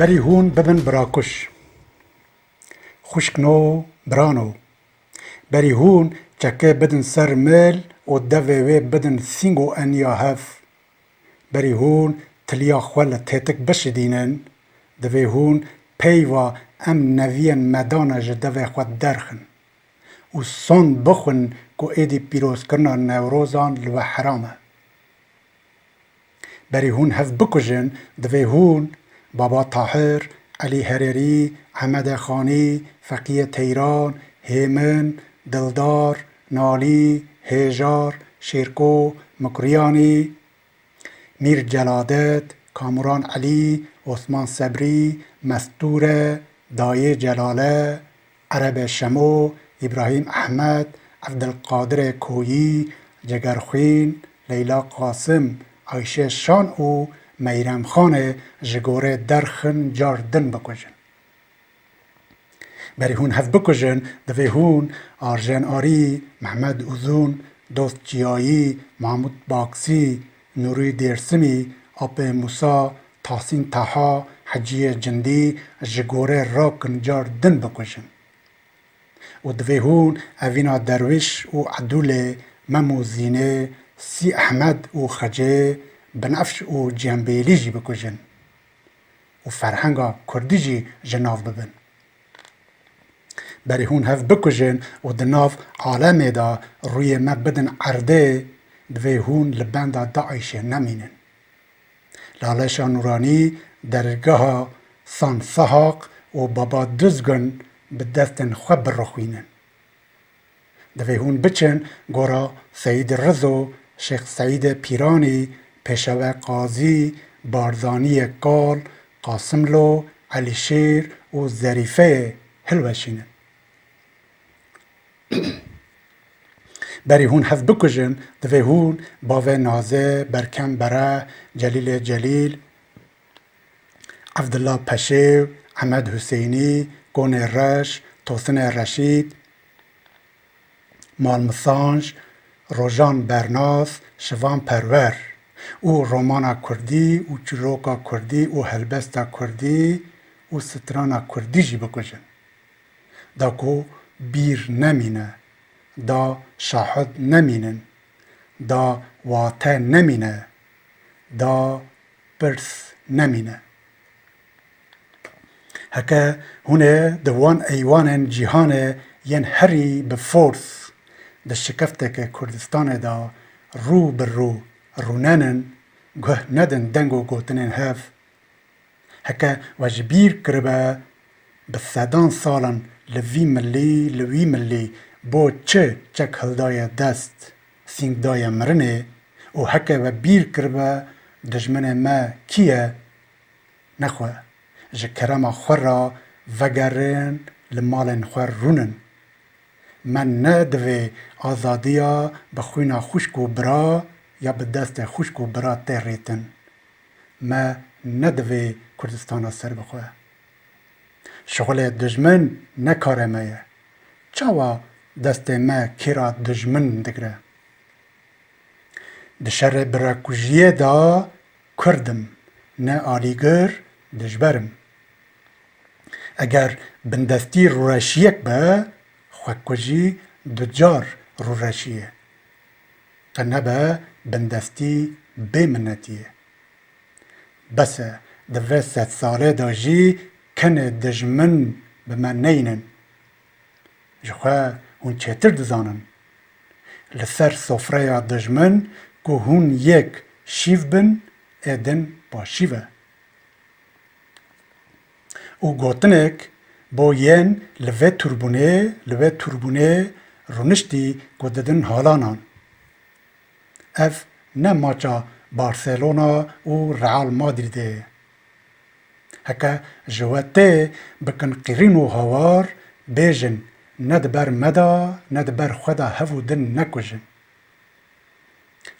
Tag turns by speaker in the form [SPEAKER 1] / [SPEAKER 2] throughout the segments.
[SPEAKER 1] Berî hûn bibin birakuj. Xwişk no bira no. Berî hûn çekê bidin ser mil û devê wê bidin sîng û eniya hev. Berî hûn tiliya xwe li têtik bişidînin. Divê hûn peyva em neviyên me dane ji devê xwe derxin. û son bixwin ku êdî pîrozkirina Newrozan li we heram e. Berî hûn hev bikujin divê hûn, Baba Tahir, Elî Hererî, Emede Xanî, Feqîye Teyran, Hêmin, Dildar, Nalî, Hêjar, Şêrko, Mikuryanî, Mîr Celadet, Kamuran Elî, Osman Sebrî, Mestûre, Dayê Celale, Erebe Şemo, Îbrahîm Ehmed, Evdilqadire Koyî, Ceger Xwîn, Leyla Qasim, Ayşe Şan û Meyrem Xan e ji gorê derxin car din bikujin. Berî hûn hev bikujin divê hûn Arjen Arî, Mehmed Uzun, Dost Ciyayî, Mahmûd Baksî, Nûrî Dêrsimî, Apê Mûsa, Tahsîn Taha, Heciyê Cindî ji gorê rakin car din bikujin. Û divê hûn evîna Derwîş û Edûlê, Mem û Zînê, Sî Ehmed û Xecê, Binefş û Cîhanbêlî jî bikujin. Û ferhenga kurdî jî ji nav bibin. Berî hûn hev bikujin û di nav alemê de rûyê me bidin erdê, divê hûn li benda DAIŞ'ê nemînin. Laleşa Nûranî, dergeha San Sahaq û Baba Duzgun bi destên xwe birixwînin. Divê hûn biçin gora Seyîd Rizo, Şêx Seîdê Pîranî, Pêşewe Qazî, Barzanîyê Kal, Qasimlo, Elîşêr û Zerîfeyê hilweşînin. Berî hûn hev bikujin, divê hûn bavê Naze, Berkem Bereh, Celîlê Celîl, Evdillah Peşêw, Emed Husênî, Konê Reş, Tosine Reşîd, Malmi Sanj, Rojan Bernas, Şivan Perwer û romana kurdî û çîroka kurdî û helbesta kurdî û strana kurdî jî bikujin. Da ku bîr nemîne, da şahid nemînin, da wate nemîne. da pirs nemîne. Heke hûn ê di wan eywanên cîhanê yên herî bi fors di şikefteke Kurdistanê da rû bi rû rûnenin, guh nedin deng û gotinên hev. Heke we ji bîr kiribe bi sedan salan li vî milî li wî milî bo çi çek hildaye dest, Sîng daye mirinê û heke we bîr kiribe dijminê me kî ye? Nexwe, ji kerema xwe re vegerin li malên xwe rûnin. Me ne divê azadiya bi xwîna xwişk û bira ya bi destê xwişk û bira tê rîtin. Me ne divê Kurdistana serbixwe. Şixulê dijmin ne karê me ye. Çawa destê me kira dijmin digre? Di şerê birekujiyê de Kurd im, ne alîgir dijber im. Eger bindestî rûreşiyek be, xwekujî du car rûreşiyê. Qe nebe bindestî bêminnetiyê. Bes e, di vê sedsale de jî kenê dijmin bi me neyînin. Ji xwe hûn çêtir dizanin. Li ser sofreya dijmin ku hûn yek şîv bin ê din paşîv e. Û gotinêk bo yên li vê tûrbûnê li wê tûrbûnê rûniştî ku didin halanan. Ev ne maça Barcelona û Real Madridê ye. Heke ji we tê bikin qîrîn û hawar, bêjin ne di ber me de ne di ber xwe de hev û din nekujin.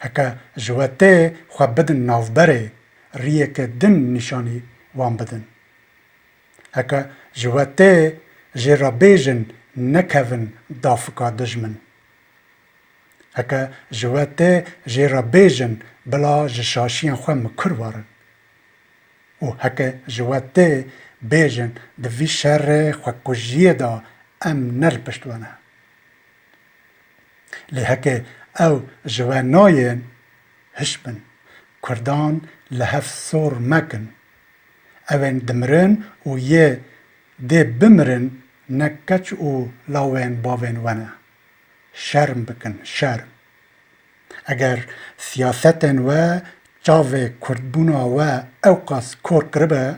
[SPEAKER 1] Heke ji we tê xwe bidin navberê, riyeke din nîşanî wan bidin. Heke ji we tê jê re bêjin nekevin dafika dijmin. Heke ji we tê jê re bêjin bila ji şaşiyên xwe mikur warin. Û heke ji we tê bêjin di vî şerê xwekujiyê de em ne li pişt we ne. Lê heke ew ji we nayên, hişbin, kurdan li hev sor mekin. Ewên dimirin û yê dê bimirin ne keç û lawên bavên we ne. Şerm bikin, şerm. Eger siyasetên we çavê kurdbûna we ewqas kor kiribe,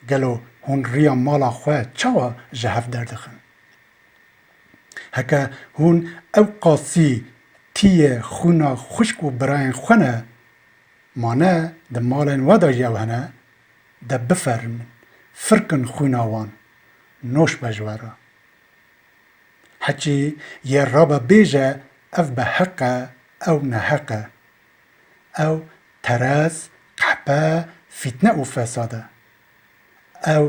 [SPEAKER 1] gelo hûn riya mala xwe çawa ji hev derdixin? Heke hûn ewqasî tîyê xwîna xwişk û birayên xwe ne, ma ne di malên we de jî ew hene, de bifermin, firkin xwîna wan, noş be ji we re. Hikî yê rabe bêje ev bi heq e ew neheq e. Ew terez, qehpe, fîtne û fesad e. Ew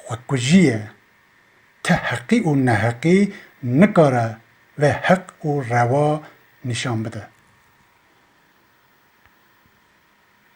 [SPEAKER 1] xwekujî ye. Ti heqî û neheqî nikare vê heq û rewa nîşan bide.